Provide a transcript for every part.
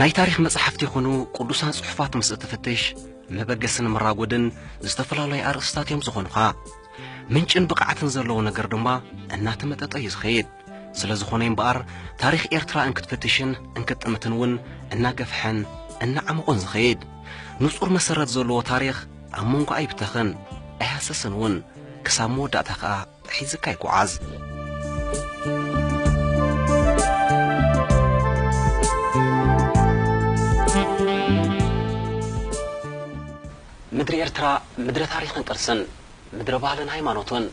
ናይ ታሪኽ መጻሕፍቲ ይኹኑ ቅዱሳን ጽሑፋት ምስ እትፍትሽ መበገስን መራጎድን ዝተፈላለዩ ኣርእስታት እዮም ዝኾኑኻ። ምንጭን ብቕዓትን ዘለዎ ነገር ድማ እናተመጠጠ እዩ ዝኸይድ። ስለ ዝኾነ እምበኣር ታሪኽ ኤርትራ እንክትፍትሽን እንክትጥምትን እውን እናገፍሐን እናዓመቖን ዝኸይድ ንጹር መሰረት ዘለዎ ታሪኽ ኣብ መንጎ ኣይብተኽን ኣይሃሰስን እውን ክሳብ መወዳእታ ከኣ ሒዝካ ይጉዓዝ። ምድሪ ኤርትራ ምድረ ታሪኽን ቅርስን፣ ምድረ ባህልን ሃይማኖትን፣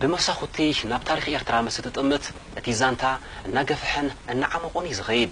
ብመሳኹቲ ናብ ታሪኽ ኤርትራ ምስ እትጥምት እቲ ዛንታ እናገፍሐን እናዓሞቖን እዩ ዝኸይድ።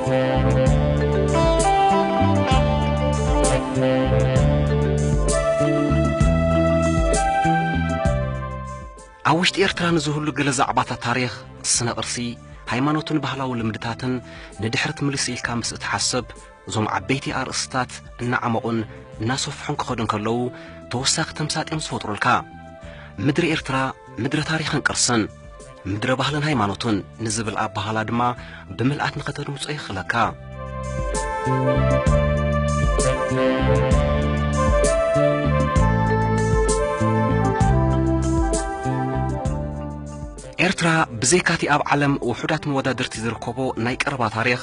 ኣብ ውሽጢ ኤርትራ ንዝህሉ ገለ ዛዕባታት ታሪኽ፣ ስነ ቅርሲ፣ ሃይማኖትን ባህላዊ ልምድታትን ንድሕርት ምልስ ኢልካ ምስ እትሓስብ እዞም ዓበይቲ ኣርእስትታት እናዓመቑን እናሰፍሑን ክኸዱ እንከለዉ ተወሳኺ ተምሳጥዮም ዝፈጥሩልካ። ምድሪ ኤርትራ ምድረ ታሪኽን ቅርስን ምድረ ባህልን ሃይማኖትን ንዝብል ኣባህላ ድማ ብምልኣት ንኸተድምጾ የኽእለካ። ኤርትራ ብዘይካቲ ኣብ ዓለም ውሑዳት መወዳድርቲ ዝርከቦ ናይ ቀረባ ታሪኽ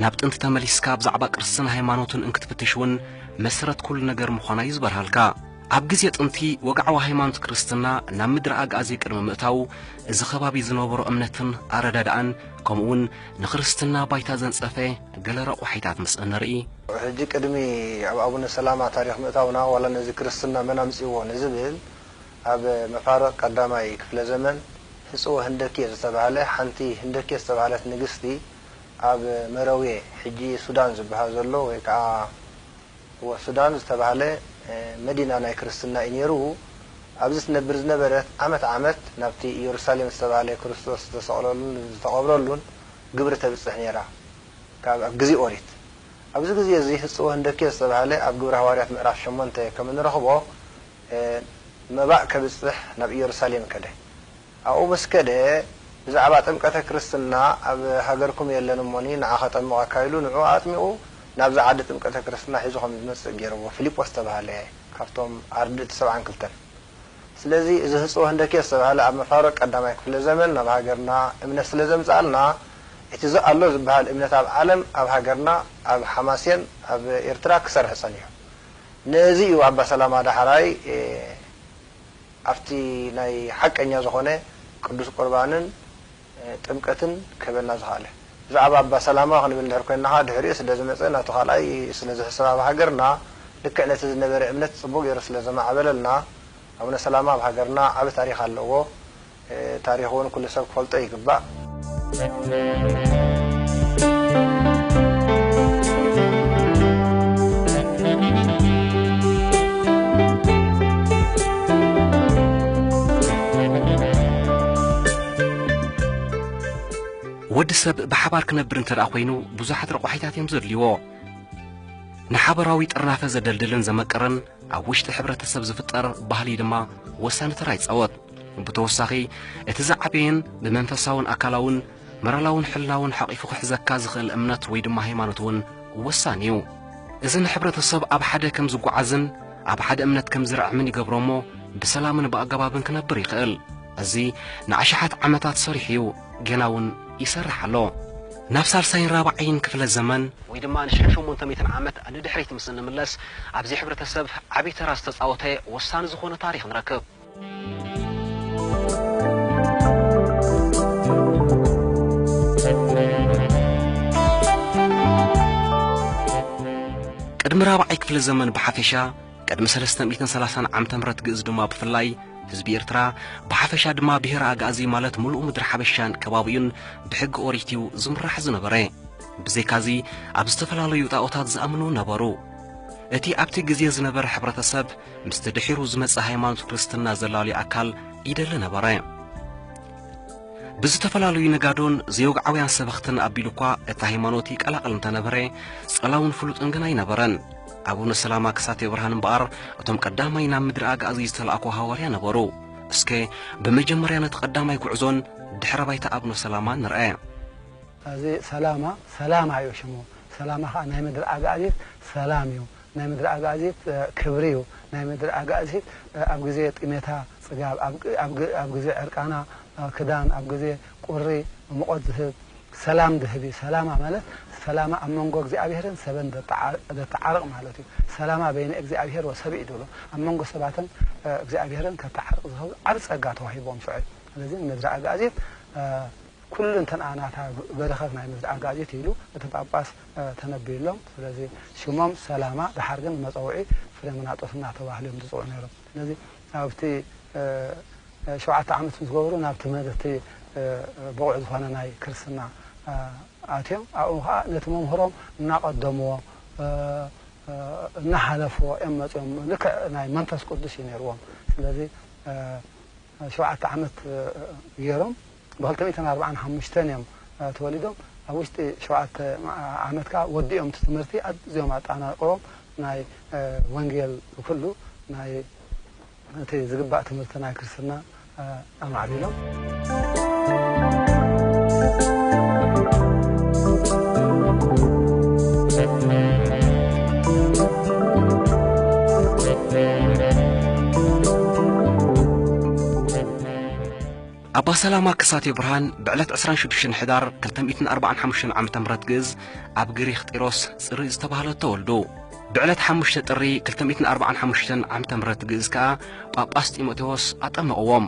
ናብ ጥንቲ ተመሊስካ ብዛዕባ ቅርስን ሃይማኖትን እንክትፍትሽ እውን መሰረት ኩሉ ነገር ምዃና እዩ ዝበርሃልካ። ኣብ ግዜ ጥንቲ ወግዓዊ ሃይማኖት ክርስትና ናብ ምድሪ ኣግኣዚ ቅድሚ ምእታዉ እዚ ከባቢ ዝነበሮ እምነትን ኣረዳድኣን ከምኡ ውን ንክርስትና ባይታ ዘንጸፈ ገለ ረቋሒታት ምስ እንርኢ፣ ሕጂ ቅድሚ ኣብ ኣቡነ ሰላማ ታሪኽ ምእታውና ዋላ ነዚ ክርስትና መን ኣምጺእዎ ንዝብል ኣብ መፋርቕ ቀዳማይ ክፍለ ዘመን ህጽወ ህንደኬ ዝተባህለ ሓንቲ ህንደኬ ዝተባህለት ንግስቲ ኣብ መረውየ ሕጂ ሱዳን ዝበሃል ዘሎ ወይ ከኣ እወ ሱዳን ዝተባህለ መዲና ናይ ክርስትና እዩ ኔሩ ኣብዚ ትነብር ዝነበረት ዓመት ዓመት ናብቲ ኢየሩሳሌም ዝተባህለ ክርስቶስ ዝተሰቅለሉን ዝተቀብረሉን ግብሪ ተብጽሕ ኔራ ካብ ኣብ ግዜ ኦሪት ኣብዚ ግዜ እዚ ህጽወ ህንደኬ ዝተባህለ ኣብ ግብሪ ሃዋርያት ምዕራፍ ሸሞንተ ከም እንረኽቦ መባእ ከብጽሕ ናብ ኢየሩሳሌም ከደ ኣብኡ ምስ ከደ፣ ብዛዕባ ጥምቀተ ክርስትና ኣብ ሃገርኩም የለን እሞኒ ንዓ ከጠምቐካ ኢሉ ንዕኡ ኣጥሚቑ ናብዛ ዓዲ ጥምቀተ ክርስትና ሒዙ ከም ዝመጽእ ገይርዎ ፊሊጶስ ዝተባህለ ካብቶም ኣርድእቲ ሰብዓን ክልተን። ስለዚ እዚ ህጽቦ ህንደኬ ዝተባህለ ኣብ መፋርቕ ቀዳማይ ክፍለ ዘመን ናብ ሃገርና እምነት ስለ ዘምጽኣልና እቲ ኣሎ ዝበሃል እምነት ኣብ ዓለም ኣብ ሃገርና ኣብ ሓማሴን ኣብ ኤርትራ ክሰርሕ ጸኒሑ። ነዚ እዩ ኣባ ሰላማ ዳሕራይ ኣብቲ ናይ ሓቀኛ ዝኾነ ቅዱስ ቁርባንን ጥምቀትን ክህበና ዝኸኣለ። ብዛዕባ ኣባ ሰላማ ክንብል እንድሕር ኮይንና ከኣ ድሕሪኡ ስለ ዝመጸ ናቱ ካልኣይ ስለ ዝሕሰብ ኣብ ሃገርና ልክዕ ነቲ ዝነበረ እምነት ጽቡቕ ጌሩ ስለ ዘማዕበለልና ኣቡነ ሰላማ ኣብ ሃገርና ዓቢ ታሪኽ ኣለዎ ታሪኹ ውን ኩሉ ሰብ ክፈልጦ ይግባእ። ወዲ ሰብ ብሓባር ክነብር እንተ ኮይኑ ብዙሓት ረቋሒታት እዮም ዘድልይዎ ንሓበራዊ ጥርናፈ ዘደልድልን ዘመቅርን ኣብ ውሽጢ ሕብረተሰብ ዝፍጠር ባህሊ ድማ ወሳኒ ተራ ይፃወት ብተወሳኺ እቲ ዝዓበየን ብመንፈሳውን ኣካላውን መራላውን ሕላውን ሓቒፉ ክሕዘካ ዝኽእል እምነት ወይ ድማ ሃይማኖት እውን ወሳኒ እዩ እዚ ንሕብረተሰብ ኣብ ሓደ ከም ዝጓዓዝን ኣብ ሓደ እምነት ከም ዝርዕምን ይገብሮ እሞ ብሰላምን ብኣገባብን ክነብር ይኽእል እዚ ንኣሽሓት ዓመታት ሰሪሑ እዩ ጌና እውን ይሰርሕ ኣሎ ናብ ሳልሳይን ራብዓይን ክፍለ ዘመን ወይ ድማ ንሽሕ ሸሞንተ ሚእትን ዓመት ንድሕሪት ምስ እንምለስ ኣብዚ ሕብረተሰብ ዓብዪ ተራ ዝተፃወተ ወሳኒ ዝኾነ ታሪኽ ንረክብ ቅድሚ ራብዓይ ክፍለ ዘመን ብሓፈሻ ቅድሚ 330 ዓመተ ምህረት ግእዝ ድማ ብፍላይ ህዝቢ ኤርትራ ብሓፈሻ ድማ ብሄረ ኣግኣዚ ማለት ምሉእ ምድሪ ሓበሻን ከባቢኡን ብሕጊ ኦሪት እዩ ዝምራሕ ዝነበረ ብዘይካዚ ኣብ ዝተፈላለዩ ጣኦታት ዝኣምኑ ነበሩ እቲ ኣብቲ ግዜ ዝነበረ ሕብረተሰብ ምስቲ ድሒሩ ዝመጸ ሃይማኖት ክርስትና ዘላልዩ ኣካል ይደሊ ነበረ። ብዝተፈላለዩ ነጋዶን ዘይወግዓውያን ሰበኽትን ኣቢሉ እኳ እቲ ሃይማኖት ይቀላቐል እንተነበረ ጸላውን ፍሉጥን ግን ኣይነበረን። ኣቡነ ሰላማ ክሳቴ ብርሃን እምበኣር እቶም ቀዳማይ ናብ ምድሪ ኣጋእዚ ዝተላእኩ ሃዋርያ ነበሩ። እስከ ብመጀመርያ ነቲ ቀዳማይ ጉዕዞን ድሕረ ባይታ ኣቡነ ሰላማን ንርአ። እዚ ሰላማ ሰላማ እዩ ሽሙ፣ ሰላማ ኸኣ ናይ ምድሪ ኣጋእዚት ሰላም እዩ። ናይ ምድሪ ኣጋእዚት ክብሪ እዩ። ናይ ምድሪ ኣጋእዚት ኣብ ግዜ ጥሜታ ጽጋብ፣ ኣብ ግዜ ዕርቃና ክዳን፣ ኣብ ግዜ ቁሪ ምቖት ዝህብ፣ ሰላም ዝህብ እዩ። ሰላማ ማለት ሰላማ ኣብ መንጎ እግዚኣብሔርን ሰብን ዘተዓርቕ ማለት እዩ። ሰላማ በይነ እግዚኣብሔር ወሰብእ እዩ ዝብሎ። ኣብ መንጎ ሰባትን እግዚኣብሔርን ከተዓርቕ ዝኸብሉ ዓቢ ጸጋ ተዋሂብዎም ሰዑ። ስለዚ ንምድሪ ኣጋእዚት ኩሉ እንተንኣ ናታ በረኸት ናይ ምድሪ ኣጋእዚት ኢሉ እቲ ጳጳስ ተነብዩሎም። ስለዚ ሽሞም ሰላማ ደሓር ግን ንመጸውዒ ፍሬምናጦስ እናተባህሉ እዮም ዝጽውዑ ነይሮም። ስለዚ ኣብቲ ሸውዓተ ዓመት ምስ ገበሩ ናብ ትምህርቲ ብቑዕ ዝኾነ ናይ ክርስትና ኣትዮም ኣብኡ ከኣ ነቲ መምህሮም እናቐደምዎ እናሓለፍዎ እዮም መጺኦም። ልክዕ ናይ መንፈስ ቅዱስ እዩ ነይርዎም። ስለዚ ሸውዓተ ዓመት ገይሮም ብክልተ ሚእትን ኣርብዓን ሓሙሽተን እዮም ተወሊዶም ኣብ ውሽጢ ሸውዓተ ዓመት ከኣ ወዲኦም እቲ ትምህርቲ ኣዝዮም ኣጣናቅቆም ናይ ወንጌል ኩሉ ናይ እቲ ዝግባእ ትምህርቲ ናይ ክርስትና ኣማዕቢሎም። ኣባ ሰላማ ከሳቴ ብርሃን ብዕለት 26 ሕዳር 245 ዓ ም ግእዝ ኣብ ግሪኽ ጢሮስ ጽሪ ዝተባህለ ተወልዱ ብዕለት 5 ጥሪ 245 ዓ ም ግእዝ ከኣ ጳጳስ ጢሞቴዎስ ኣጠመቕዎም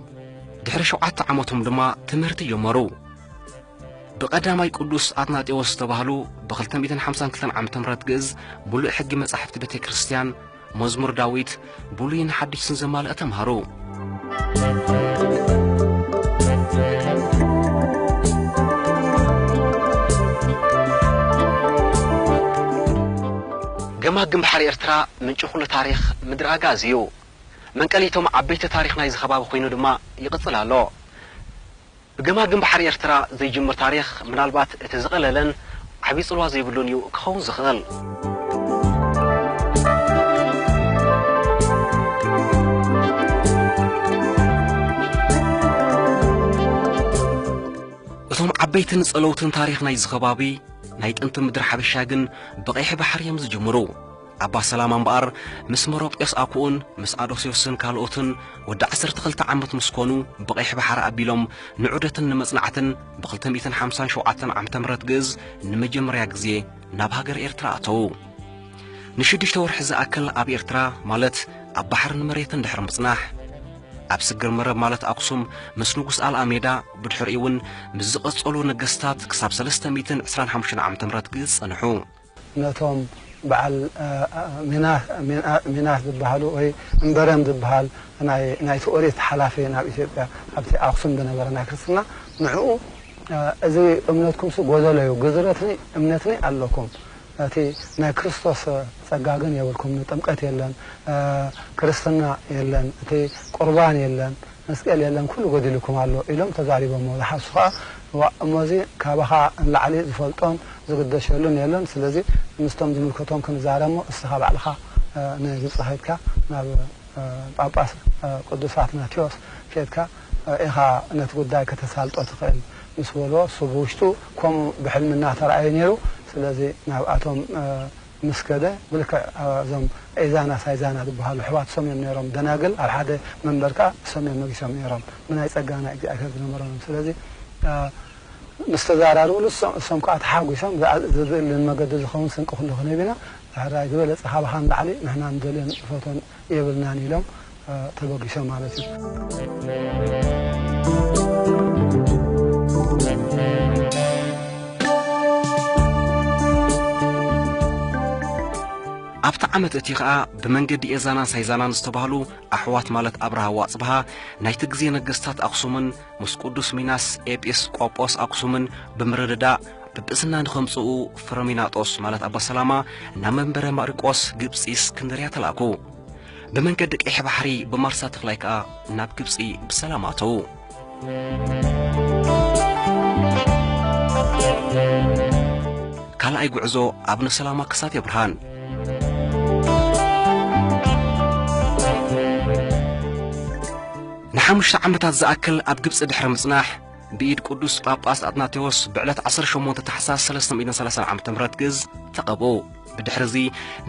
ድሕሪ ሸውዓተ ዓመቶም ድማ ትምህርቲ ጀመሩ ብቀዳማይ ቅዱስ ኣትናጤዎስ ዝተባህሉ ብክልተ ሚእትን ሓምሳን ክልተን ዓመተ ምህረት ግእዝ ምሉእ ሕጊ መጻሕፍቲ ቤተ ክርስቲያን መዝሙር ዳዊት ብሉይን ሓዲስን ዘማልአ ተምሃሩ። ገማግም ባሕሪ ኤርትራ ምንጪ ኩሉ ታሪኽ ምድሪ ኣግኣዚ እዩ። መንቀሊ'ቶም ዓበይቲ ታሪኽ ናይዚ ከባቢ ኮይኑ ድማ ይቕጽል ኣሎ። ብገማግም ባሕሪ ኤርትራ ዘይጅምር ታሪኽ ምናልባት እቲ ዝቐለለን ዓቢ ጽልዋ ዘይብሉን እዩ ክኸውን ዝኽእል። እቶም ዓበይትን ጸለውትን ታሪኽ ናይዚ ከባቢ ናይ ጥንቲ ምድሪ ሓበሻ ግን ብቐይሕ ባሕሪ እዮም ዝጅምሩ። ኣባ ሰላማ እምበኣር ምስ መሮጴስ ኣኩኡን ምስ ኣዶስዮስን ካልኦትን ወዲ ዓሰርተ ክልተ ዓመት ምስ ኮኑ ብቐይሕ ባሕሪ ኣቢሎም ንዑደትን ንመጽናዕትን ብክልተ ሚእትን ሓምሳን ሸውዓተን ዓመተ ምህረት ግእዝ ንመጀመርያ ግዜ ናብ ሃገር ኤርትራ ኣተዉ። ንሽዱሽተ ወርሒ ዝኣክል ኣብ ኤርትራ ማለት ኣብ ባሕርን መሬትን ድሕሪ ምጽናሕ ኣብ ስግር መረብ ማለት ኣክሱም ምስ ንጉስ ኣልኣሜዳ ብድሕሪኡ'ውን ምስ ዝቐጸሉ ነገስታት ክሳብ ሰለስተ ሚእትን ዕስራን ሓሙሽተን ዓመተ ምህረት ግእዝ ጸንሑ። ነቶም በዓል ሚናስ ዝበሃሉ ወይ እምበረም ዝበሃል ናይቲ ኦሪት ሓላፊ ናብ ኢትዮጵያ ኣብቲ ኣኽሱም ዝነበረ ናይ ክርስትና ንዕኡ እዚ እምነትኩምሲ ጎደሎ እዩ ግዝረትኒ እምነትኒ ኣለኩም እቲ ናይ ክርስቶስ ጸጋ ግን የብልኩምኒ ጥምቀት የለን ክርስትና የለን እቲ ቁርባን የለን መስቀል የለን ኩሉ ጎዲሉኩም ኣሎ ኢሎም ተዛሪቦሞ ዝሓሱ ከኣ እዋእ እሞዚ ካባኻ እንላዕሊ ዝፈልጦን ዝግደሸሉን የለን ስለዚ ምስቶም ዝምልከቶም ክንዛረብሞ እስኻ ባዕልኻ ንግብጺ ከድካ ናብ ጳጳስ ቅዱስ ኣትናቴዎስ ኬድካ ኢኻ ነቲ ጉዳይ ከተሳልጦ ትኽእል ምስ በልዎ እሱ ብውሽጡ ከምኡ ብሕልሚ እናተራኣዮ ኔሩ ስለዚ ናብኣቶም ምስ ከደ ብልክዕ እዞም ኤዛና ሳይዛና ዝብሃሉ ኣሕዋት ሰም እዮም ነይሮም ደናግል ኣብ ሓደ መንበር ከኣ ሰም እዮም ነጊሶም ነይሮም ብናይ ጸጋ ናይ እግዚኣብሔር ዝነበሮም ስለዚ ምስ ተዛራርብሉ እሶም ከኣ ተሓጒሶም ዘድልን መገዲ ዝኸውን ስንቂ ኩሉ ክንህብ ኢና ሕራይ ዝበለጸ ካብኻ ንላዕሊ ንሕና ንደልዮን ንፈቶን የብልናን ኢሎም ተበጊሶም ማለት እዩ። ኣብቲ ዓመት እቲ ኸኣ ብመንገዲ ኤዛናን ሳይዛናን ዝተባህሉ ኣሕዋት ማለት ኣብርሃ ዋጽብሃ ናይቲ ግዜ ነገስታት ኣኽሱምን ምስ ቅዱስ ሚናስ ኤጲስ ቆጶስ ኣኽሱምን ብምርድዳእ ጵጵስና ንኸምጽኡ ፍረሚናጦስ ማለት ኣባ ሰላማ ናብ መንበረ ማሪቆስ ግብጺ እስክንድርያ ተላእኩ። ብመንገዲ ቀይሕ ባሕሪ ብማርሳ ተኽላይ ከኣ ናብ ግብጺ ብሰላም ኣተዉ። ካልኣይ ጉዕዞ ኣብነ ሰላማ ከሳቴ ብርሃን ንሓሙሽተ ዓመታት ዝኣክል ኣብ ግብጺ ድሕሪ ምጽናሕ ብኢድ ቅዱስ ጳጳስ ኣትናቴዎስ ብዕለት 18 ታሕሳስ 330 ዓ ም ግእዝ ተቐብኡ ብድሕሪ እዚ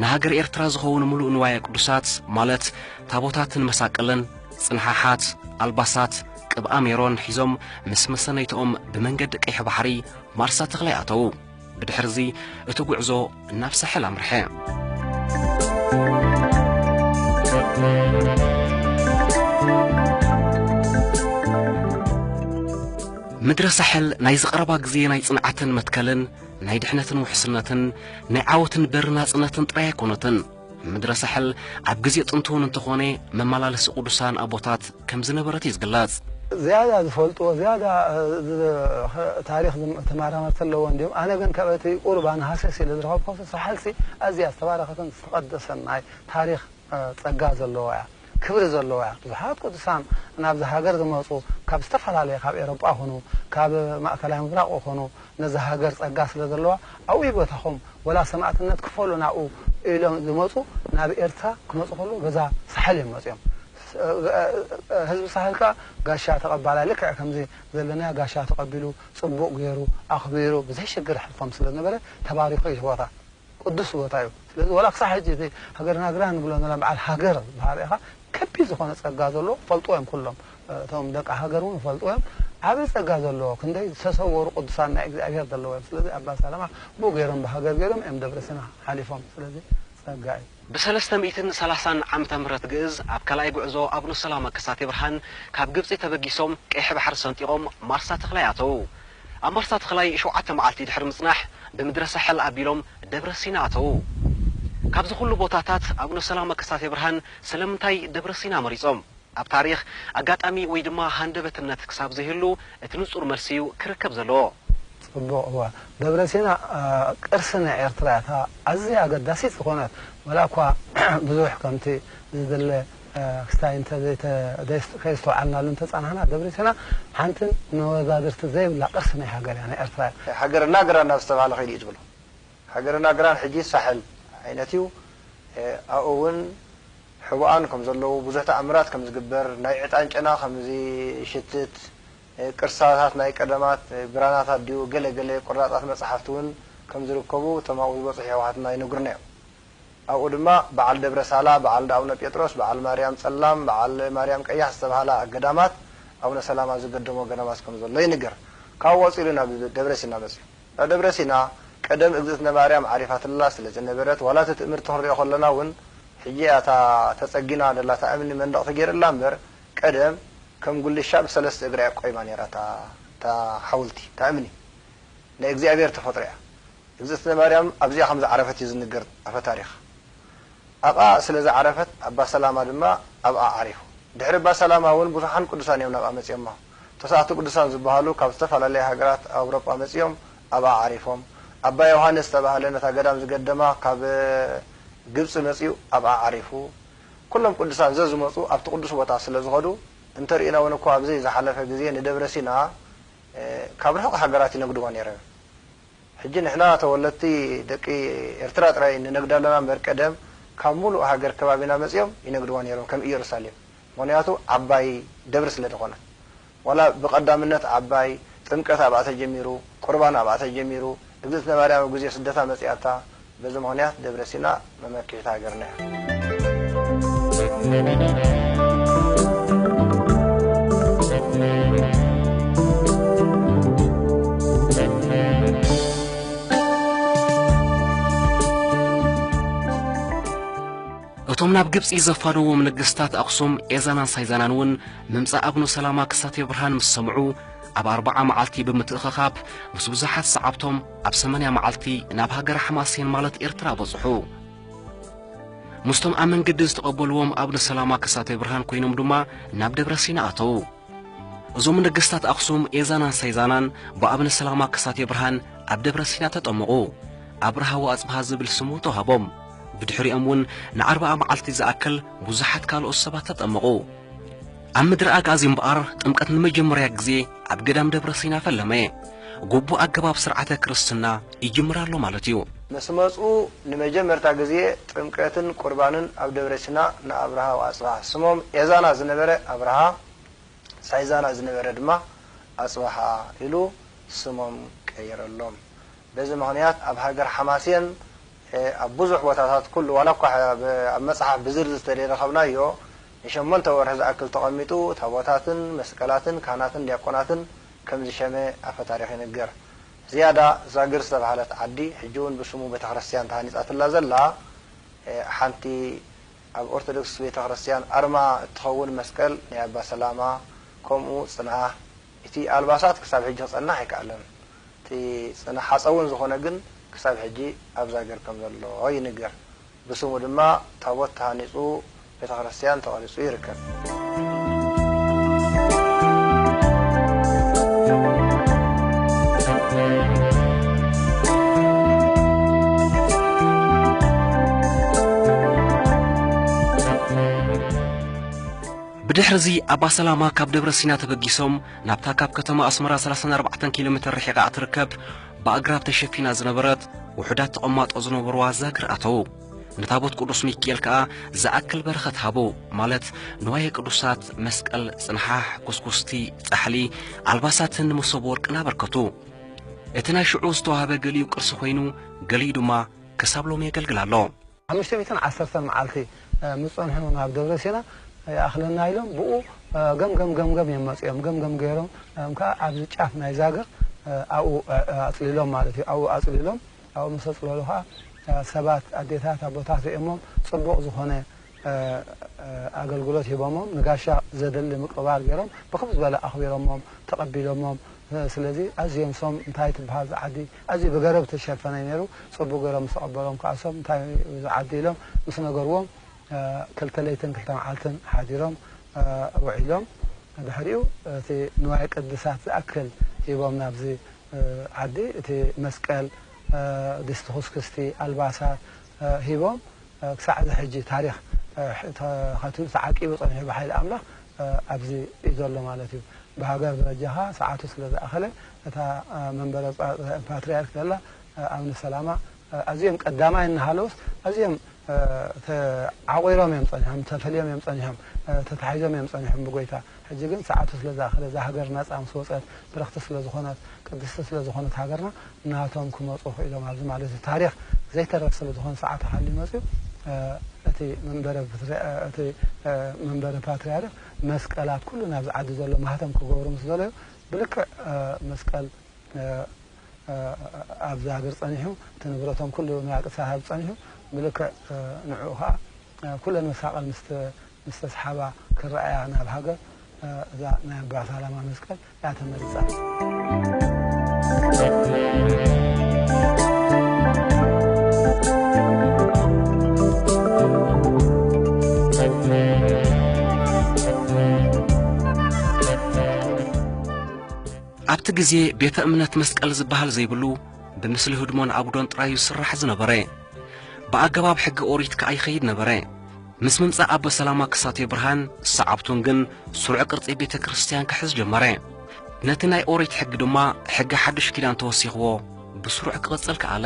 ንሃገር ኤርትራ ዝኸውን ምሉእ ንዋየ ቅዱሳት ማለት ታቦታትን መሳቅልን ጽንሓሓት ኣልባሳት ቅብኣ ሜሮን ሒዞም ምስ መሰነይትኦም ብመንገዲ ቀይሕ ባሕሪ ማርሳ ተኽላይ ኣተዉ ብድሕርዚ እቲ ጉዕዞ ናብ ሳሕል ኣምርሐ። ምድረ ሳሕል ናይ ዝቐረባ ግዜ ናይ ጽንዓትን መትከልን ናይ ድሕነትን ውሕስነትን ናይ ዓወትን በሪ ናጽነትን ጥራይ ኣይኮነትን። ምድረ ሳሕል ኣብ ግዜ ጥንቲ እውን እንተኾነ መመላለሲ ቅዱሳን ኣቦታት ከም ዝነበረት እዩ ዝግለጽ። ዝያዳ ዝፈልጥዎ ዝያዳ ታሪኽ ተማራመርቲ ኣለዎ እንድዮም ኣነ ግን ካብ እቲ ቁርባን ሃሰስ ኢለ ዝረኸብኩዎስ ሳሕልሲ ኣዝያ ዝተባረኸትን ዝተቐደሰን ናይ ታሪኽ ጸጋ ዘለዋ እያ። ክብሪ ዘለዋ ብዙሓት ቅዱሳን ናብዛ ሃገር ዝመጹ ካብ ዝተፈላለየ ካብ ኤሮጳ ኩኑ ካብ ማእከላይ ምብራቕ ኩኑ ነዛ ሃገር ጸጋ ስለ ዘለዋ ኣብኡ ይበተኹም ወላ ሰማእትነት ክፈሉ ናብኡ ኢሎም ዝመጹ ናብ ኤርትራ ክመጹ ከለዉ በዛ ሳሕል እዮም መጺኦም ህዝቢ ሳሕል ከኣ ጋሻ ተቐባላይ ልክዕ ከምዚ ዘለናዮ ጋሻ ተቐቢሉ ጽቡቕ ጌሩ ኣኽቢሩ ብዘይ ሽግር የሕልፎም ስለ ዝነበረ ተባሪኹ እዩ እቲ ቦታ። ቅዱስ ቦታ እዩ ስለዚ ዋላ ክሳዕ ሕጂ እዚ ሃገርናግራ ንብሎ ዘለና በዓል ሃገር ዝበሃል ኢኻ ከቢድ ዝኾነ ጸጋ ዘለዎ ክፈልጥዎ እዮም ኩሎም እቶም ደቂ ሃገር እውን ክፈልጥዎ እዮም ዓቢ ጸጋ ዘለዎ ክንደይ ዝተሰወሩ ቅዱሳን ናይ እግዚኣብሔር ዘለዎ እዮም ስለዚ ኣባ ሰላማ ብኡ ገይሮም ብሃገር ገይሮም እዮም ደብረሲና ሓሊፎም ስለዚ ጸጋ እዩ ብሰለስተ ሚእትን ሰላሳን ዓመተ ምህረት ግእዝ ኣብ ካልኣይ ጉዕዞ ኣቡነ ሰላማ ከሳቴ ብርሃን ካብ ግብጺ ተበጊሶም ቀይሕ ባሕሪ ሰንጢቖም ማርሳ ተኽላይ ኣተዉ። ኣብ ማርሳ ተኽላይ ሸውዓተ መዓልቲ ድሕሪ ምጽናሕ ብምድረ ሳሕል ኣቢሎም ደብረ ሲና ኣተዉ። ካብዚ ኩሉ ቦታታት ኣቡነ ሰላማ ከሳቴ ብርሃን ስለምንታይ ደብረ ሲና መሪጾም? ኣብ ታሪኽ፣ ኣጋጣሚ ወይ ድማ ሃንደበትነት ክሳብ ዘይህሉ፣ እቲ ንጹር መልሲ እዩ ክርከብ ዘለዎ። ጽቡቕ እወ ደብረሲና ቅርሲ ናይ ኤርትራ እያ እታ ኣዝያ ኣገዳሲት ዝኾነት ወላኳ ብዙሕ ከምቲ ዝድለ ክስታይ እንተ ዘይተ ከይስተውዓልናሉ እንተ ጸናሕና ደብረሲና ሓንቲ መወዳድርቲ ዘይብላ ቅርሲ ናይ ሃገር እያ ናይ ኤርትራ እያ። ሃገረ ናግራን ናብ ዝተባህለ ከይዱ እዩ ዝብሎ ሃገረ ናግራን ሕጂ ሳሕል ዓይነት እዩ ኣኡ ውን። ሕቡኣን ከም ዘለዉ፣ ብዙሕ ተኣምራት ከም ዝግበር፣ ናይ ዕጣን ጨና ከም ዚሽትት፣ ቅርሳታት ናይ ቀደማት ብራናታት ድዩ ገለ ገለ ቁራጻት መጽሓፍቲ ውን ከም ዝርከቡ እቶም ኣብኡ ዝበጽሑ የሕዋትና ይነግሩና እዮም። ኣብኡ ድማ በዓል ደብረ ሳላ፣ በዓል እንዳ ኣቡነ ጴጥሮስ፣ በዓል ማርያም ጸላም፣ በዓል ማርያም ቀያሕ ዝተባህላ ገዳማት፣ ኣቡነ ሰላማ ዝገደሞ ገዳማት ከም ዘሎ ይንገር። ካብኡ ቀጺሉ ናብ ደብረ ሲና መጺኡ። ኣብ ደብረ ሲና ቀደም እግዝእትነ ማርያም ዓሪፋትላ ስለ ዝነበረት ዋላ እቲ ትእምርቲ ክንሪኦ ከለና እውን ሕጂ እያ እታ ተጸጊና ደላ እታ እምኒ መንደቕ ተገይርላ እምበር ቀደም ከም ጉልሻ ብሰለስተ እግራ እያ ቆይማ ነይራ እታ እታ ሓውልቲ እታ እምኒ ናይ እግዚኣብሔር ተፈጥሮ እያ እግዝእትነ ማርያም ኣብዚኣ ከም ዝዓረፈት እዩ ዝንገር ኣፈ ታሪኽ ኣብኣ ስለ ዝዓረፈት ኣባ ሰላማ ድማ ኣብኣ ዓሪፉ ድሕሪ እባ ሰላማ እውን ብዙሓን ቅዱሳን እዮም ናብኣ መጺኦማ ተስዓቱ ቅዱሳን ዝበሃሉ ካብ ዝተፈላለያ ሃገራት ኣውሮጳ መጺኦም ኣብኣ ዓሪፎም። ኣባ ዮሃንስ ዝተባህለ ነታ ገዳም ዝገደማ ካብ ግብጺ መጺኡ ኣብኣ ዓሪፉ። ኩሎም ቅዱሳን ዘዝመጹ ኣብቲ ቅዱስ ቦታ ስለ ዝኸዱ እንተርኢና እውን እኳ ኣብዘይ ዝሓለፈ ግዜ ንደብረ ሲና ካብ ርሑቕ ሃገራት ይነግድዎ ነይረም። ሕጂ ንሕና ተወለድቲ ደቂ ኤርትራ ጥራይ ንነግዳ ኣለና እምበር ቀደም ካብ ምሉእ ሃገር ከባቢና መጺኦም ይነግድዋ ነይሮም ከም ኢየሩሳሌም ምክንያቱ ዓባይ ደብሪ ስለ ድኮነት ዋላ ብቀዳምነት ዓባይ ጥምቀት ኣብኣ ተጀሚሩ ቁርባን ኣብኣ ተጀሚሩ እግዝእትነ ማርያም ኣብ ግዜ ስደታ መጺኣታ በዚ ምክንያት ደብረ ሲና መመኪሒት ሃገርና እያ። እቶም ናብ ግብጺ ዘፋነዎም ነገስታት ኣኽሱም ኤዛናን ሳይዛናን እውን ምምጻእ ኣቡነ ሰላማ ክሳቴ ብርሃን ምስ ሰምዑ ኣብ ኣርብዓ መዓልቲ ብምትእኸኻብ ምስ ብዙሓት ሰዓብቶም ኣብ ሰመንያ መዓልቲ ናብ ሃገረ ሓማሴን ማለት ኤርትራ በጽሑ። ምስቶም ኣብ መንገዲ ዝተቐበልዎም ኣቡነ ሰላማ ክሳቴ ብርሃን ኮይኖም ድማ ናብ ደብረ ሲና ኣተዉ። እዞም ነገስታት ኣኽሱም ኤዛናን ሰይዛናን ብኣብነ ሰላማ ከሳቴ ብርሃን ኣብ ደብረ ሲና ተጠመቑ። ኣብርሃ ወኣጽብሃ ዝብል ስሙ ተዋህቦም። ብድሕሪኦም እውን ንኣርብዓ መዓልቲ ዝኣክል ብዙሓት ካልኦት ሰባት ተጠመቑ። ኣብ ምድረ ኣግኣዚ እምበኣር ጥምቀት ንመጀመርያ ግዜ ኣብ ገዳም ደብረ ሲና ፈለመ። ጉቡእ ኣገባብ ስርዓተ ክርስትና ይጅምር ኣሎ ማለት እዩ። ምስ መጹ ንመጀመርታ ግዜ ጥምቀትን ቁርባንን ኣብ ደብረ ሲና ንኣብርሃ ወኣጽብሃ፣ ስሞም ኤዛና ዝነበረ ኣብርሃ፣ ሳይዛና ዝነበረ ድማ ኣጽብሃ ኢሉ ስሞም ቀየረሎም። በዚ ምኽንያት ኣብ ሃገር ሓማሴን ኣብ ብዙሕ ቦታታት ኩሉ ዋላ እኳ ኣብ መጽሓፍ ብዝርዝር ተደይረኸብናዮ ንሸሞንተ ወርሒ ዝኣክል ተቐሚጡ ታቦታትን መስቀላትን ካህናትን ዲያቆናትን ከም ዝሸመ ኣፈታሪኽ ይንገር። ዝያዳ ዛግር ዝተባህለት ዓዲ፣ ሕጂ'ውን ብስሙ ቤተክርስትያን ተሃኒጻትላ ዘላ፣ ሓንቲ ኣብ ኦርቶዶክስ ቤተክርስትያን ኣርማ እትኸውን መስቀል ናይ ኣባ ሰላማ፣ ከምኡ ጽንዓ፣ እቲ ኣልባሳት ክሳብ ሕጂ ክጸንሕ ኣይከኣለን። እቲ ጽንሓጸውን ዝኾነ ግን ክሳብ ሕጂ ኣብ ዛግር ከም ዘሎ ይንገር። ብስሙ ድማ ታቦት ተሃኒፁ ቤተክርስትያን ተቐሪፁ ይርከብ። ብድሕርዚ ኣባ ሰላማ ካብ ደብረ ሲና ተበጊሶም ናብታ ካብ ከተማ ኣስመራ ሰላሳን ኣርባዕተን ኪሎ ሜተር ርሒቓ እትርከብ ብኣግራብ ተሸፊና ዝነበረት ውሑዳት ተቐማጦ ዝነበርዋ ዛግር ኣተዉ። ንታቦት ቅዱስ ሚኪኤል ከኣ ዝኣክል በረኸት ሃቡ፣ ማለት ንዋየ ቅዱሳት፣ መስቀል፣ ጽንሓሕ፣ ኩስኩስቲ፣ ጻሕሊ፣ ኣልባሳትን መሶብ ወርቅን ኣበርከቱ። እቲ ናይ ሽዑ ዝተዋህበ ገሊኡ ቅርሲ ኮይኑ ገሊኡ ድማ ክሳብ ሎሚ የገልግል ኣሎ። ሓሙሽተ ሚእትን ዓሰርተን መዓልቲ ምስ ጸንሑ ናብ ደብረ ሲና ይኣኽለና ኢሎም ብኡ ገምገም ገምገም እዮም መጺኦም። ገምገም ገይሮም ከኣ ኣብዚ ጫፍ ናይ ዛግር ኣብኡ ኣጽሊሎም ማለት እዩ። ኣብኡ ኣጽሊሎም ኣብኡ ምስ ኣጽለሉ ከኣ ሰባት ኣዴታት ኣቦታት ርእዮሞም ጽቡቕ ዝኾነ ኣገልግሎት ሂቦሞም ንጋሻ ዘድሊ ምቅብባል ገይሮም ብክብ ዝበለ ኣኽቢሮሞም ተቐቢሎሞም ስለዚ ኣዝዮም ሶም እንታይ ትብሃል እዛ ዓዲ ኣዚ ብገረብ ዝተሸፈነ ነሩ ጸቡቅ ገሮም ምስ ቀበሮም ክኣ ሰብ እንታይ ዩ ዝዓዲ ኢሎም ምስ ነገርዎም ክልተ ለይትን ክልተ መዓልትን ሓዲሮም ውዒሎም ድሕሪኡ እቲ ንዋየ ቅድሳት ዝኣክል ሂቦም ናብዚ ዓዲ እቲ መስቀል ድስቲ ኩስክስቲ ኣልባሳት ሂቦም ክሳዕ እዚ ሕጂ ታሪኽ ተኸቲሉ ተዓቂቡ ጸኒሑ ብሓይሊ ኣምላኽ ኣብዚ ዩ ዘሎ ማለት ዩ ብሃገር ደረጃ ከኣ ሰዓቱ ስለ ዝኣኸለ እታ መንበረ ፓትርያርክ ዘላ ኣብነ ሰላማ ኣዝዮም ቀዳማይ እናሃለውስ ኣዝዮም ተዓቚሮም እዮም ጸኒሖም፣ ተፈልዮም እዮም ጸኒሖም፣ ተታሒዞም እዮም ጸኒሖም ብጐይታ። ሕጂ ግን ሰዓቱ ስለ ዝኣኸለ እዛ ሃገር ናጻ ምስ ወጸት ብርኽቲ ስለ ዝኾነት ቅድስቲ ስለ ዝኾነት ሃገርና ናቶም ክመጹ ክኢሎም ኣብዚ ማለት እዩ ታሪኽ ዘይተርፍ ስለ ዝኾነ ሰዓቱ ሓልዩ መጺኡ እቲ መንበረ እቲ መንበረ ፓትርያርክ መስቀል ኣብ ኩሉ ናብዚ ዓዲ ዘሎ ማህተም ክገብሩ ምስ ደለዩ ብልክዕ መስቀል ኣብዛ ሃገር ጸኒሑ እቲ ንብረቶም ኩሉ ንባዕልቲ ክሳብ ጸኒሑ ብልክዕ ንዕኡ ከኣ ኩለን መሳቐል ምስ ተስሓባ ክረኣያ ናብ ሃገር እዛ ናይ ኣባ ሳላማ መስቀል እያ ተመሪጻ። ኣብቲ ግዜ ቤተ እምነት መስቀል ዝበሃል ዘይብሉ ብምስሊ ህድሞን ኣጉዶን ጥራዩ ዝስራሕ ዝነበረ ብኣገባብ ሕጊ ኦሪት ከኣ ይኸይድ ነበረ ምስ ምምጻእ ኣቦ ሰላማ ክሳቴ ብርሃን ሰዓብቱን ግን ስሩዕ ቅርጺ ቤተ ክርስቲያን ክሕዝ ጀመረ ነቲ ናይ ኦሪት ሕጊ ድማ ሕጊ ሓዱሽ ኪዳን ተወሲኽዎ ብስሩዕ ክቕጽል ከኣለ።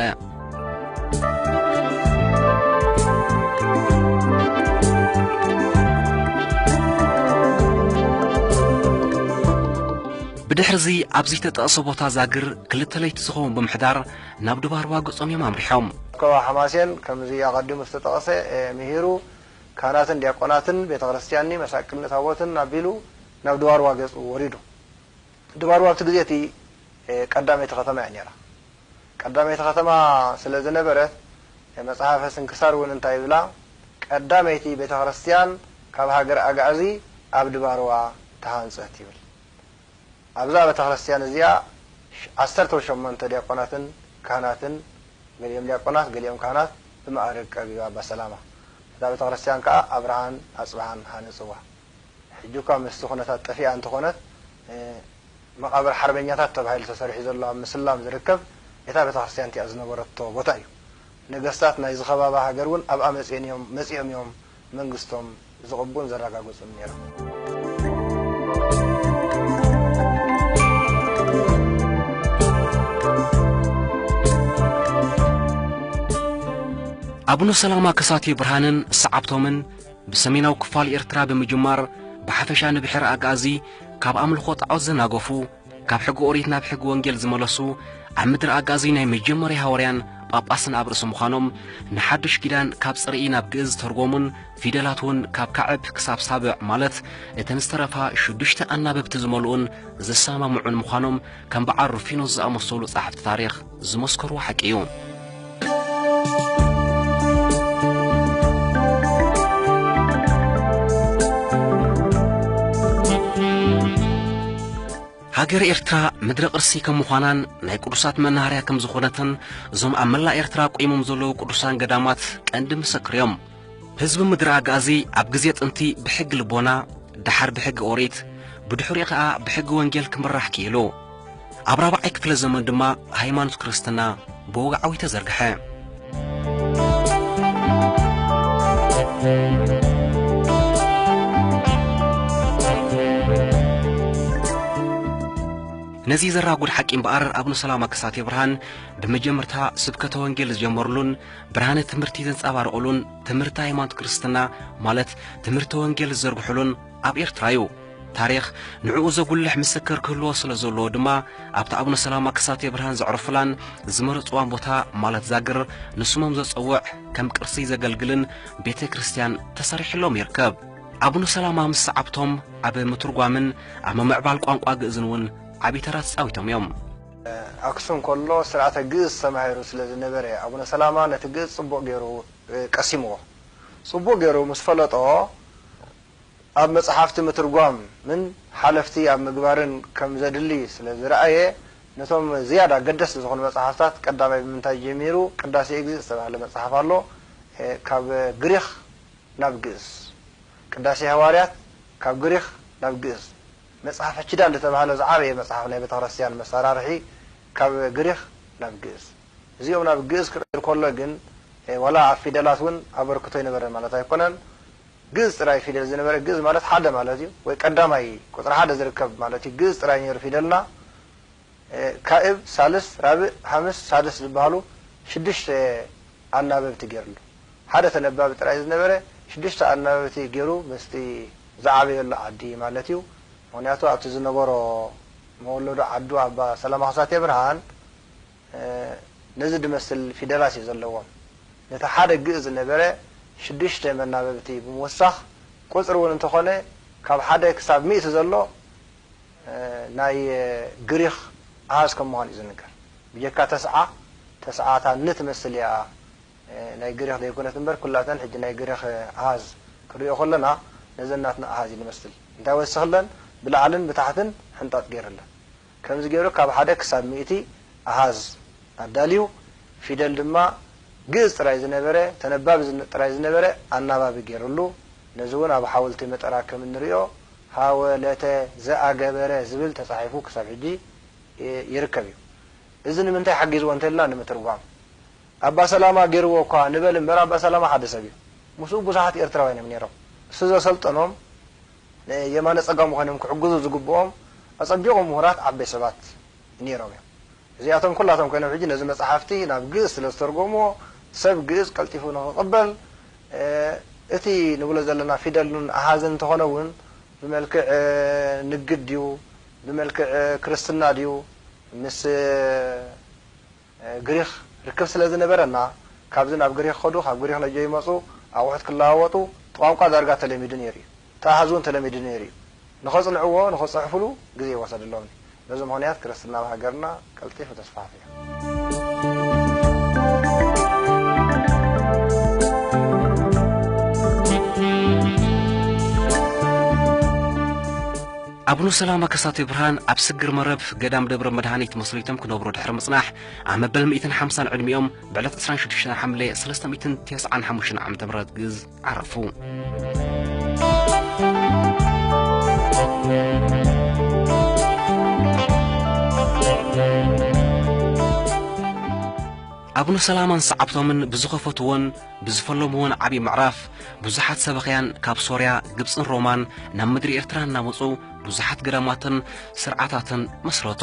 ብድሕርዚ ኣብ ዘይተጠቕሰ ቦታ ዛግር ክልተ ለይቲ ዝኸውን ብምሕዳር ናብ ድባርዋ ገጾም እዮም ኣምሪሖም። ኮባ ሓማሴን ከምዚ ኣቐዲሙ ዝተጠቕሰ ምሂሩ ካህናትን ዲያቆናትን ቤተ ክርስቲያንኒ መሳቅልኒ ታቦትን ኣቢሉ ናብ ድባርዋ ገጹ ወሪዱ። ድባርዋ ኣብቲ ግዜ እቲ ቀዳመይቲ ከተማ እያ ነይራ። ቀዳመይቲ ከተማ ስለ ዝነበረት መጽሓፈ ስንክሳር እውን እንታይ ይብላ ቀዳመይቲ ቤተ ክርስትያን ካብ ሃገረ ኣግኣዚ ኣብ ድባርዋ ተሃንጸት ይብል። ኣብዛ ቤተ ክርስትያን እዚኣ ዓሰርተው ሸሞንተ ዲያቆናትን ካህናትን ገሊኦም ዲያቆናት ገሊኦም ካህናት ብመኣርግ ቀቢባ ኣባ ሰላማ ነታ ቤተ ክርስትያን ከኣ ኣብርሃን ኣጽብሃን ሃነጽዋ። ሕጂኳ ምስቲ ኩነታት ጠፊኣ እንተኾነት መቓብር ሓርበኛታት ተባሂሉ ተሰሪሑ ዘሎ ኣብ ምስላም ዝርከብ እታ ቤተክርስትያን እቲኣ ዝነበረቶ ቦታ እዩ። ነገስታት ናይዚ ከባቢ ሃገር እውን ኣብኣ መጺኤን እዮም መጺኦም እዮም መንግስቶም ዝቕቡን ዘረጋግጹን ነይሮም። ኣቡነ ሰላማ ከሳቴ ብርሃንን ሰዓብቶምን ብሰሜናዊ ክፋል ኤርትራ ብምጅማር ብሓፈሻ ንብሕረ ኣግኣዚ ካብ ኣምልኾ ጣዖት ዘናገፉ፣ ካብ ሕጊ ኦሪት ናብ ሕጊ ወንጌል ዝመለሱ፣ ኣብ ምድረ ኣግኣዚ ናይ መጀመርያ ሃወርያን ጳጳስን ኣብ ርእሲ ምዃኖም፣ ንሓድሽ ኪዳን ካብ ጽርኢ ናብ ግእዝ ዝተርጎሙን ፊደላት ውን ካብ ካዕብ ክሳብ ሳብዕ ማለት እተን ዝተረፋ ሽዱሽተ ኣናብብቲ ዝመልኡን ዝሰማምዑን ምዃኖም ከም በዓል ሩፊኖስ ዝኣመሰሉ ጸሓፍቲ ታሪኽ ዝመስከርዎ ሓቂ እዩ። ሃገረ ኤርትራ ምድረ ቅርሲ ከም ምዃናን ናይ ቅዱሳት መናሃርያ ከም ዝኾነትን እዞም ኣብ መላእ ኤርትራ ቆይሞም ዘለዉ ቅዱሳን ገዳማት ቀንዲ ምስክር እዮም። ህዝቢ ምድሪ ኣግኣዚ ኣብ ግዜ ጥንቲ ብሕጊ ልቦና፣ ደሓር ብሕጊ ኦሪት፣ ብድሕሪኡ ከኣ ብሕጊ ወንጌል ክምራሕ ክኢሉ። ኣብ ራብዓይ ክፍለ ዘመን ድማ ሃይማኖት ክርስትና ብወግዓዊ ተዘርግሐ። ነዚ ዘራጉድ ሓቂ እምበኣር ኣብነ ሰላማ ከሳቴ ብርሃን ብመጀመርታ ስብከተ ወንጌል ዝጀመርሉን ብርሃነ ትምህርቲ ዘንጻባርቑሉን ትምህርቲ ሃይማኖት ክርስትና ማለት ትምህርቲ ወንጌል ዝዘርግሑሉን ኣብ ኤርትራ እዩ። ታሪኽ ንዕኡ ዘጉልሕ ምስክር ክህልዎ ስለ ዘለዎ ድማ ኣብታ ኣቡነ ሰላማ ከሳቴ ብርሃን ዘዕረፉላን ዝመረጽዋን ቦታ ማለት ዛግር ንስሞም ዘጸውዕ ከም ቅርሲ ዘገልግልን ቤተ ክርስቲያን ተሰሪሕሎም ይርከብ። ኣቡነ ሰላማ ምስ ሰዓብቶም ኣብ ምትርጓምን ኣብ ምምዕባል ቋንቋ ግእዝን እውን ዓብዪ ተራ ተጻዊቶም እዮም። ኣክሱም ከሎ ስርዓተ ግእዝ ተማሂሩ ስለ ዝነበረ ኣቡነ ሰላማ ነቲ ግእዝ ጽቡቕ ገይሩ ቀሲምዎ። ጽቡቕ ገይሩ ምስ ፈለጦ ኣብ መጽሓፍቲ ምትርጓምን ሓለፍቲ ኣብ ምግባርን ከም ዘድሊ ስለ ዝረኣየ ነቶም ዝያዳ ኣገደስቲ ዝኾኑ መጽሓፍታት ቀዳማይ ብምንታይ ጀሚሩ ቅዳሴ እግዚእ ዝተባህለ መጽሓፍ ኣሎ ካብ ግሪኽ ናብ ግእዝ ቅዳሴ ሃዋርያት ካብ ግሪኽ ናብ ግእዝ መጽሐፈ ኪዳን ዝተባህለ ዝዓበየ መጽሐፍ ናይ ቤተክርስትያን መሳራርሒ ካብ ግሪኽ ናብ ግእዝ እዚኦም ናብ ግእዝ ክቕየር ኮሎ ግን ዋላ ኣብ ፊደላት ውን ኣበርክቶ ኣይነበረን ማለት ኣይኮነን ግእዝ ጥራይ ፊደል ዝነበረ ግእዝ ማለት ሓደ ማለት እዩ ወይ ቀዳማይ ቁጽሪ ሓደ ዝርከብ ማለት እዩ ግእዝ ጥራይ ኔሩ ፊደልና ካእብ ሳልስት ራብእ ሃምስ ሳድስ ዝብሃሉ ሽዱሽተ ኣናበብቲ ገይርሉ። ሓደ ተነባቢ ጥራይ ዝነበረ ሽዱሽተ ኣናበብቲ ገይሩ ምስቲ ዝዓበየሉ ዓዲ ማለት'ዩ። ምኽንያቱ ኣብቲ ዝነበሮ መወለዱ ዓዱ ኣባ ሰላማ ከሳቴብርሃን ነዚ ድመስል ፊደላት'ዩ ዘለዎም። ነቲ ሓደ ግእዝ ዝነበረ ሽዱሽተ መናበብቲ ብምውሳኽ ቁጽሪ እውን እንተኾነ ካብ ሓደ ክሳብ ሚእቲ ዘሎ ናይ ግሪኽ ኣሃዝ ከም ምዃኑ እዩ ዝንገር። ብጀካ ተስዓ፣ ተስዓ እታ ን ትመስል እያ ናይ ግሪኽ ዘይኮነት እምበር ኩላተን ሕጂ ናይ ግሪኽ ኣሃዝ ክንሪኦ ከሎና ነዘን ናትና ኣሃዝ እዩ ዝመስል። እንታይ ወሲኽለን ብላዕልን ብታሕትን ሕንጣጥ ገይርለን። ከምዚ ገይሩ ካብ ሓደ ክሳብ ሚእቲ ኣሃዝ ኣዳልዩ ፊደል ድማ ግእዝ ጥራይ ዝነበረ ተነባቢ ጥራይ ዝነበረ ኣናባቢ ገይርሉ። ነዚ እውን ኣብ ሓውልቲ መጠራ ከም እንሪኦ ሃወ ለተ ዘኣገበረ ዝብል ተፃሒፉ ክሳብ ሕጂ ይርከብ እዩ። እዚ ንምንታይ ሓጊዝዎ እንተልና ንምትርጓም። ኣባ ሰላማ ገይርዎ እኳ ንበል እምበር ኣባ ሰላማ ሓደ ሰብ እዩ። ምስኡ ብዙሓት ኤርትራውያን እዮም ነይሮም። እሱ ዘሰልጠኖም ንየማነ ፀጋሙ ኮይኖም ክሕግዙ ዝግብኦም ኣፀቢቑ ምሁራት ዓበይ ሰባት ነይሮም እዮም። እዚኣቶም ኩላቶም ኮይኖም ሕጂ ነዚ መፃሕፍቲ ናብ ግእዝ ስለ ዝተርጎምዎ ሰብ ግእዝ ቀልጢፉ ንኽቕበል እቲ ንብሎ ዘለና ፊደልን ኣሃዝን እንተኾነ እውን ብመልክዕ ንግድ ድዩ ብመልክዕ ክርስትና ድዩ ምስ ግሪኽ ርክብ ስለ ዝነበረ እና ካብዚ ናብ ግሪኽ ከዱ ካብ ግሪኽ ነጆ ይመፁ ኣቑሑት ክለዋወጡ እቲ ቋንቋ ዳርጋ ተለሚዱ ነይሩ እዩ። ተኣሃዝ እውን ተለሚዱ ነይሩ እዩ። ንኸጽንዕዎ ንኽጽሕፍሉ ግዜ ይወሰደሎም እዩ። በዚ ምኽንያት ክርስትና ኣብ ሃገርና ቀልጢፉ ተስፋሕፊሑ። ኣቡነ ሰላማ ከሳቴ ብርሃን ኣብ ስግር መረብ ገዳም ደብረ መድሃኒት መስሪቶም ክነብሩ ድሕሪ ምጽናሕ ኣብ መበል ሚእትን ሓምሳን ዕድሚኦም ብዕለት ዕስራን ሽዱሽተን ሓምለ ሰለስተ ሚእትን ቴስዓን ሓሙሽተን ዓመተ ምህረት ግእዝ ዓረፉ። ኣቡነ ሰላማን ሰዓብቶምን ብዝኸፈትዎን ብዝፈለምዎን ዓብዪ ምዕራፍ ብዙሓት ሰበኽያን ካብ ሶርያ ግብፅን ሮማን ናብ ምድሪ ኤርትራ እናመፁ ብዙሓት ገዳማትን ስርዓታትን መስረቱ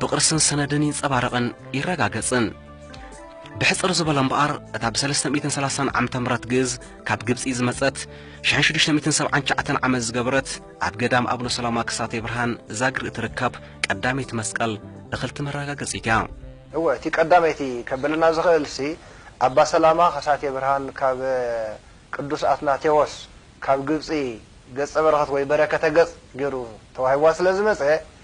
ብቕርስን ሰነድን ይንጸባረቕን ይረጋገጽን። ብሕጽር ዝበለ እምበኣር እታ ብ330 ዓመተ ምህረት ግእዝ ካብ ግብጺ ዝመጸት ሽሕን ሽዱሽተ ሚእትን ሰብዓን ትሽዓተን ዓመት ዝገበረት ኣብ ገዳም ኣብነ ሰላማ ክሳቴ ብርሃን ዛግሪ እትርከብ ቀዳመይቲ መስቀል እኽልቲ መረጋገጺት እያ። እወ እቲ ቀዳመይቲ ከብለና ዝኽእልሲ ኣባ ሰላማ ከሳቴ ብርሃን ካብ ቅዱስ ኣትናቴዎስ ካብ ግብጺ ገጸ በረኸት ወይ በረከተ ገጽ ገይሩ ተዋሂብዋ ስለ ዝመጸ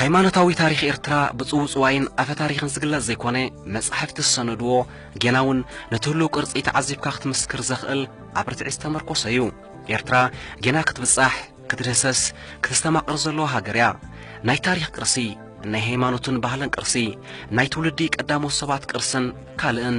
ሃይማኖታዊ ታሪኽ ኤርትራ ብጽውጽዋይን ኣፈ ታሪኽን ዝግለጽ ዘይኮነ መጻሕፍቲ ዝሰነድዎ ጌና እውን ነቲ ህሉው ቅርጺ ተዓዚብካ ክትምስክር ዘኽእል ኣብ ርትዒ ዝተመርኮሰ እዩ። ኤርትራ ጌና ክትብጻሕ፣ ክትድህሰስ፣ ክተስተማቕር ዘለዋ ሃገር እያ። ናይ ታሪኽ ቅርሲ፣ ናይ ሃይማኖትን ባህልን ቅርሲ፣ ናይ ትውልዲ ቀዳሞት ሰባት ቅርስን ካልእን